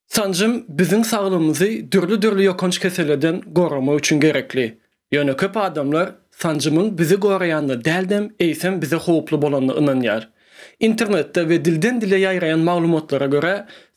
Sanjym biziň saglygymyzy dürli-dürli ýokanç kesellerden goramak üçin gerekli. Ýöne köp adamlar sanjymyň bizi goraýanyna däldem, eýsem bize howply bolanyna ynanýar. Internetde we dilden-dile ýaýraýan maglumatlara görä,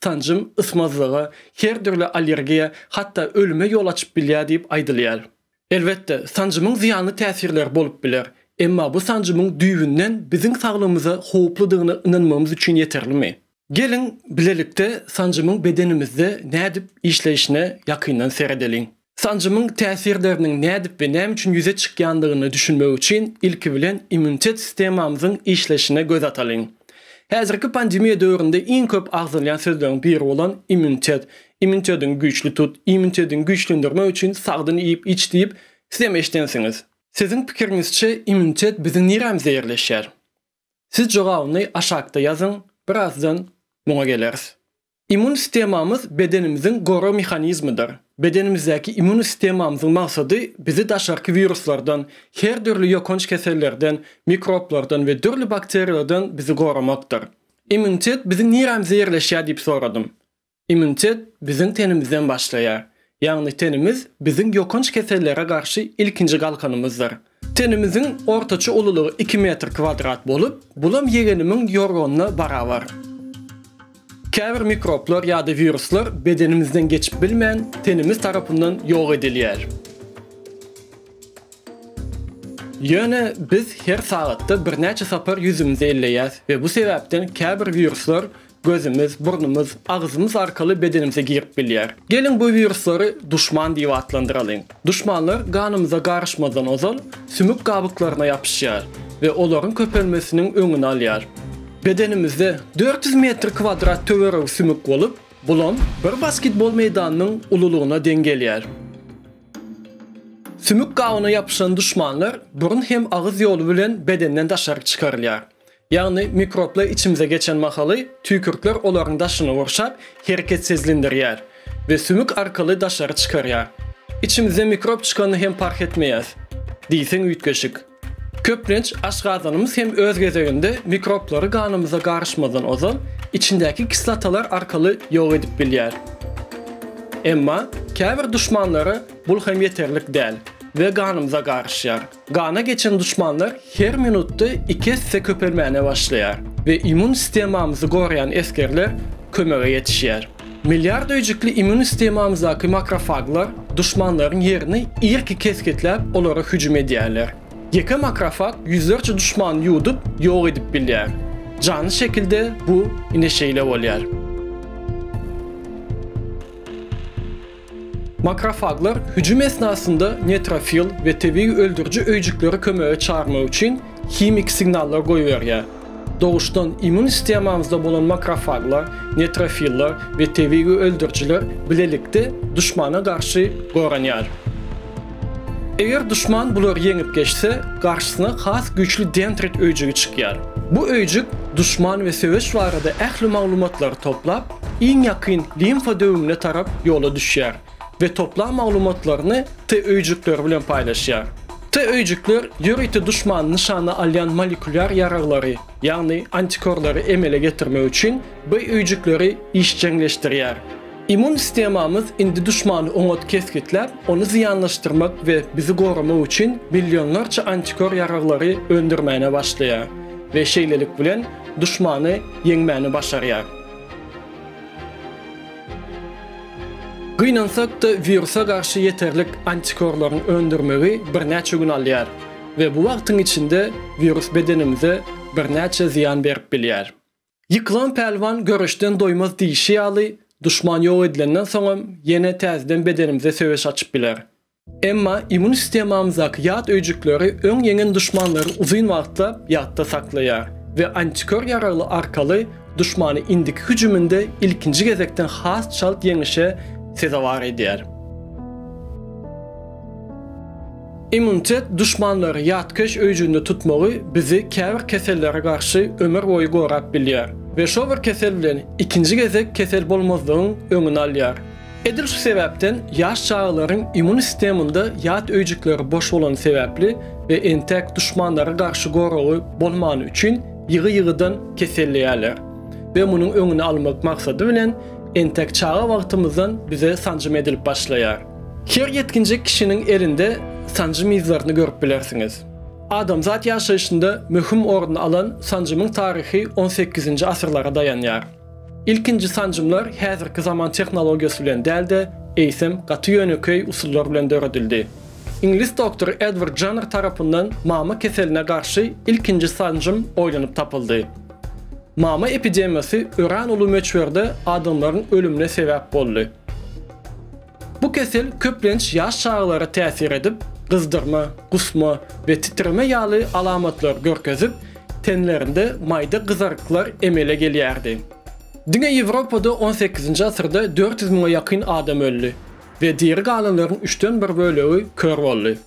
sanjym ysmazlyga, her dürli allergiýa, hatda ölüme ýol açyp bilýär diýip aýdylýar. Elbetde, sanjymyň zyýanly täsirleri bolup biler. Emma bu sanjymyň düýbünden biziň saglygymyza howpludygyna ynanmagymyz üçin ýeterlimi? Geliň, bilelikde sanjymyň bedenimizde nädip işleýşine ýakyndan seredeliň. Sanjymyň täsirleriniň nädip we näme üçin ýüze çykýandygyny düşünmek üçin ilki bilen immunitet sistemamyzyň işleşine göz atalyň. Häzirki pandemiýa döwründe iň köp agzalýan sözleriň biri bolan immunitet, immunitetiňi güýçli tut, immunitetiňi güýçlendirmek üçin sagdyn iýip-iç diýip, sizem eşidensiňiz. Siziň pikiriňizçe, immunitet biziň nirämize ýerleşýär? Siz jogabyny aşakda ýazyň, birazdan muňa geleris. Immun sistemamyz bedenimiziň gorag mehanizmidir. Bedenimizdäki immun sistemamyzyň maksady bizi daşarky wiruslardan, her dürli ýokanç kesellerden, mikroblardan we dürli bakteriýalardan bizi goramakdyr. Immunitet biziň nirämizde ýerleşýär diýip soradym. Immunitet biziň tenimizden başlaýar. Ýagny tenimiz biziň ýokanç kesellere garşy ilkinji galkanymyzdyr. Tenimiziň ortaça ululygy iki metr kwadrat bolup, bulam ýegenimiň ýorganyna barabar. Käbir mikroblar ýa-da wiruslar bedenimizden geçip bilmän, tenimiz tarapyndan ýok edilýär. Ýöne biz her sagatda birnäçe sapar ýüzümizi elleýäs we bu sebäpden käbir wiruslar Gözümiz, burnumyz, agzymyz arkaly bedenimize girip bilýär. Geliň bu wiruslary duşman diýip atlandyralyň. Duşmanlar ganymyza garyşmazdan ozal sümük gabyklaryna ýapyşýar we olaryň köpelmesiniň öňüni alýar. Bedenimizde dört ýüz metr kwadrat töweregi sümük bolup, bulam bir basketbol meýdanynyň ululygyna deň gelýär. Sümük gabyna ýapyşan duşmanlar burun hem agyz ýoly bilen bedenden daşaryk çykarylýar. Ýagny mikroblar içimize geçen mahaly tüýkürtler olaryň daşyny gurşap, hereketsizlindirýär we sümük arkaly daşary çykarýar. Içimizde mikrob çykanyny hem parh etmeýäs diýseň üýtgeşik. Köplenç aşgazanymyz hem öz gezeginde mikroblary ganymyza garyşmazdan ozal içindäki kislotalar arkaly ýok edip bilýär. Emma käbir duşmanlara bul hem ýeterlik däl we ganymyza garyşýar. Gana geçen duşmanlar her minutda iki esse köpelmäne başlaýar we immun sistemamyzy goraýan esgerler kömege ýetişýär. Milliard öýjükli immun sistemamyzdaky makrofaglar duşmanlaryň ýerini irki kesgitläp olara hüjüm edýärler. Ýeke makrofag ýüzlerçe duşmany ýuwdup ýok edip bilýär. Janly şekilde bu ine şeýle bolýar. Makrofaglar hüjüm esnasynda netrofil we tebigy öldüriji öýjükleri kömege çagyrmak üçin himiki signallar goýberýär. Doguşdan immun sistemamyzda bolan makrofaglar, netrofiller we tebigy öldürijiler bilelikde duşmana garşy goranýar. Eger duşman bulary ýeňip geçse, garşysyna has güýçli dendrit öýjügi çykýar. Bu öýjük duşman we söweş barada ähli maglumatlary toplap, iň ýakyn limfa döwüňine tarap ýola düşýär we toplan maglumatlaryny T öýjükleri bilen paýlaşýar. T öýjükler ýörite duşmany nyşana alýan molekulýar ýaraglary, ýagny antikorlary emele getirmek üçin B öýjükleri işjeňleşdirýär. Immun sistemamyz indi duşmany oňat kesgitläp, ony zyýanlaşdyrmak we bizi goramak üçin millionlarça antikor ýaraglary öndürmäne başlaýar we şeýlelik bilen duşmany ýeňmäni başarýar. Gynansak-da, wirusa garşy ýeterlik antikorlaryň öndürmegi birnäçe gün alýar we bu wagtyň içinde wirus bedenimize birnäçe zyýan berip bilýär. Ýykylan pälwan göreşden doýmaz diýşi ýaly, duşman ýok edilenden soňam ýene täzeden bedenimize söweş açyp biler. Emma immun sistemamyzdaky ýat öýjükleri öň ýeňen duşmanlary uzyn wagtlap ýatda saklaýar we antikör ýaragly arkaly duşmany indiki hüjüminde ilkinji gezekden has çalt ýeňişe sezewar edýär. Immunitet duşmanlary ýatkeş öýjüginde tutmagy bizi käbir kesellere garşy ömür boýy gorap bilýär we şo bir kesel bilen ikinji gezek kesel bolmazlygyň öňüni alýar. Edil şu sebäpden ýaş çagalaryň immun sisteminde ýat öýjükleri boş bolany sebäpli we entek duşmanlara garşy goragy bolmany üçin ýygy-ýygydan keselleýärler we munuň öňüni almak maksady bilen entek çaga wagtymyzdan bize sanjym edilip başlaýar. Her ýetginjek kişiniň elinde sanjym yzlaryny görüp bilersiňiz. Adamzat ýaşaýşynda möhüm orun alan sanjymyň taryhy on sekizinji asyrlara daýanýar. Ilkinji sanjymlar häzirki zaman tehnologiýasy bilen däl-de, eýsem, gaty ýönekeý usullar bilen döredildi. Iňlis doktory Edward Janner tarapyndan mama keseline garşy ilkinji sanjym oýlanyp tapyldy. Mama epidemiýasy örän uly möçberde adamlaryň ölümine sebäp boldy. Bu kesel köplenç ýaş çagalara täsir edip, gyzdyrma, gusma we titreme ýaly alamatlary görkezip, tenlerinde maýda gyzaryklar emele gelýärdi. Diňe Ýewropada on sekizinji asyrda dört ýüz müňe ýakyn adam öldi we diri galanlaryň üçden bir bölegi kör boldy.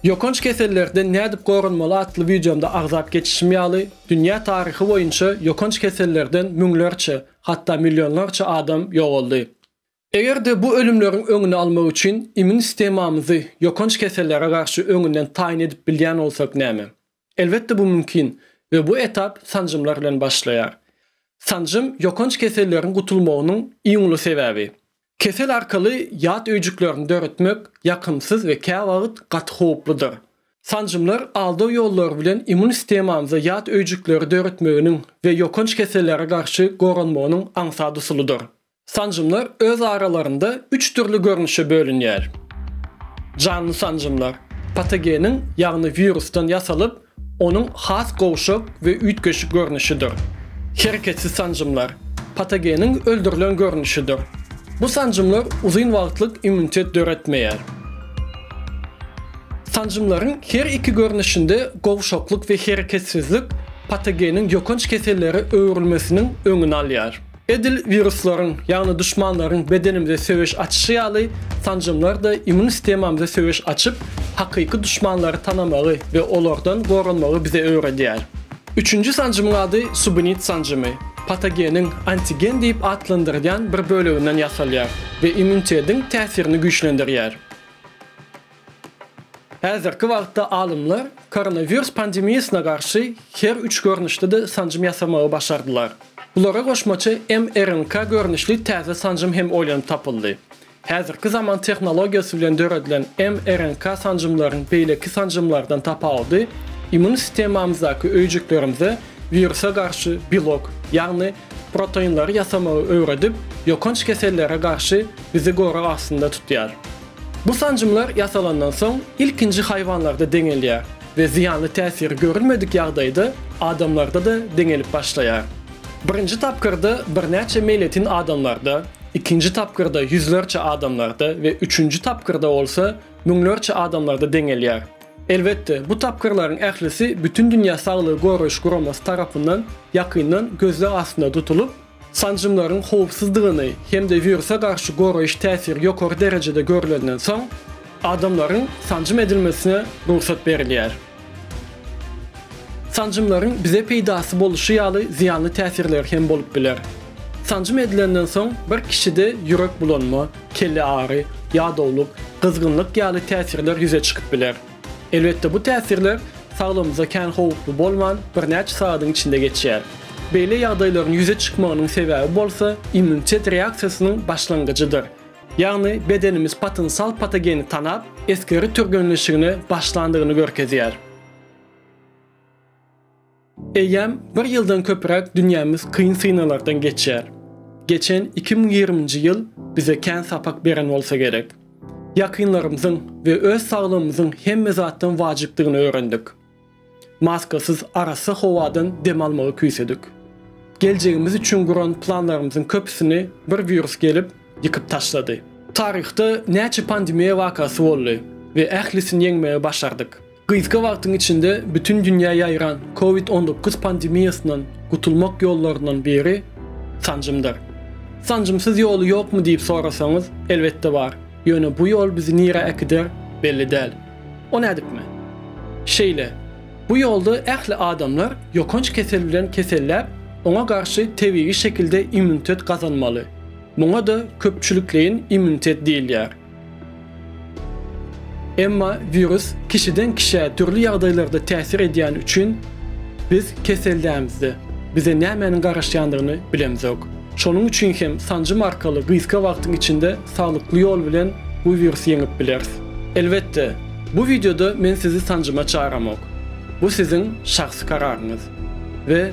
Ýokanç kesellerden nädip goranmaly atly wideomda agzap geçişim ýaly, dünýä taryhy boýunça ýokanç kesellerden müňlerçe, hatda millionlarça adam ýogaldy. Eger-de bu ölümleriň öňüni almak üçin immün sistemamyzy ýokanç kesellere garşy öňünden taýyn edip bilýän bolsak näme? Elbetde bu mümkin we bu etap sanjymlar bilen başlaýar. Sanjym ýokanç keselleriň gutulmagynyň iň uly sebäbi. Kesel arkaly ýat öýjüklerini döretmek ýakymsyz we käwagt gaty howpludyr. Sanjymlar aldaw ýollary bilen immün sistemamyza ýat öýjükleri döretmeginiň we ýokanç kesellere garşy goranmagynyň aňsat usulydyr. Sanjymlar öz aralarynda üç dürli görnüşe bölünýär. Janly sanjymlar, patogeniň, ýagny wirusdan ýasalyp, onuň has gowşak we üýtgeşik görnüşidir. Hereketsiz sanjymlar, patogeniň öldürilen görnüşidir. Bu sanjymlar uzyn wagtlyk immunitet döretmeýär. Sanjymlaryň her iki görnüşinde gowşaklyk we hereketsizlik patogeniň ýokanç kesellere öwrülmesiniň öňüni alýar. Edil wiruslaryň, ýagny duşmanlaryň bedenimize söweş açyşy ýaly, sanjymlar-da immun sistemamyza söweş açyp, hakyky duşmanlary tanamagy we olardan goranmagy bize öwredýär. Üçünji sanjymyň ady subunit sanjymy. Patogeniň antigen diýip atlandyrylýan bir böleginden ýasalýar we immunitetiň täsirini güýçlendirýär. Häzirki wagtda alymlar koronawirus pandemiýasyna garşy her üç görnüşde-de sanjym ýasamagy başardylar. Bulara goşmaça mRNK görnüşli täze sanjym hem oýlanyp tapyldy. Häzirki zaman tehnologiýasy bilen döredilen mRNK sanjymlaryň beýleki sanjymlardan tapawudy, immun sistemamyzdaky öýjüklerimize wirusa garşy belok, ýagny proteinleri ýasamagy öwredip, ýokanç kesellere garşy bizi gorag astynda tutýar. Bu sanjymlar ýasalandan soň ilkinji haýwanlarda deňelýär we zyýanly täsiri görülmedik ýagdaýda adamlarda-da deňelip başlaýar. Birinji tapgyrda birnäçe meýletin adamlarda, ikinji tapgyrda ýüzlerçe adamlarda we üçünji tapgyrda bolsa müňlerçe adamlarda deňelýär. Elbetde, bu tapgyrlaryň ählisi Bütindünýä Saglygy Goraýyş Guramasy tarapyndan ýakyndan gözleg astynda tutulyp, Sanjymlaryň howpsuzdygyny hem-de wirusa garşy goraýyş täsiri ýokary derejede görlenden soň, adamlaryň sanjym edilmesine rugsat berilýär. Sanjymlaryň bize peýdasy boluşy ýaly zyýanly täsirleri hem bolup biler. Sanjym edilenden soň bir kişide ýürek bulanma, kelle agy, ýadawlyk, gyzgynlyk ýaly täsirler ýüze çykyp biler. Elbetde, bu täsirler saglygymyza kän howply bolman, birnäçe sagadyň içinde geçýär. Beýle ýagdaýlaryň ýüze çykmagynyň sebäbi bolsa immunitet reaksiýasynyň başlangyjydyr. Ýagny bedenimiz potensial patogeni tanap, esgeri türgenleşigine başlandygyny görkezýär. Eýýäm bir ýyldan köpräk dünýämiz kyn synaglardan geçýär. Geçen iki müň ýigriminji ýyl bize kän sapak beren bolsa gerek. Ýakynlarymyzyň we öz saglygymyzyň hemme zatdan wajypdygyny öwrendik. Maskasyz arassa howadan dem almagy küýsedik. Geljegimiz üçin guran planlarymyzyň köpüsini bir wirus gelip, ýykyp taşlady. Taryhda näçe pandemiýa wakasy boldy we ählisini ýeňmegi başardyk. Gysga wagtyň içinde bütin dünýä ýaýran Covid on dokuz pandemiýasyndan gutulmak ýollaryndan biri sanjymdyr. Sanjymsyz ýoly ýokmy diýip sorasaňyz, elbetde bar, ýöne bu ýol bizi nirä äkider, belli däl. O nädipmi? Şeýle, bu ýolda ähli adamlar ýokanç kesel bilen keselläp, oňa garşy tebigy şekilde immunitet gazanmaly. Muňa-da köpçülikleýin immunitet diýilýär. Emma wirus kişiden kişä dürli ýagdaýlarda täsir edýäni üçin biz kesellänmizde bize nämäniň garaşýandygyny bilemzok. Şonuň üçin hem sanjym arkaly gysga wagtyň içinde saglykly ýol bilen bu wirusy ýeňip bileris. Elbetde, bu wideoda men sizi sanjyma çagyramok. Bu siziň şahsy kararyňyz we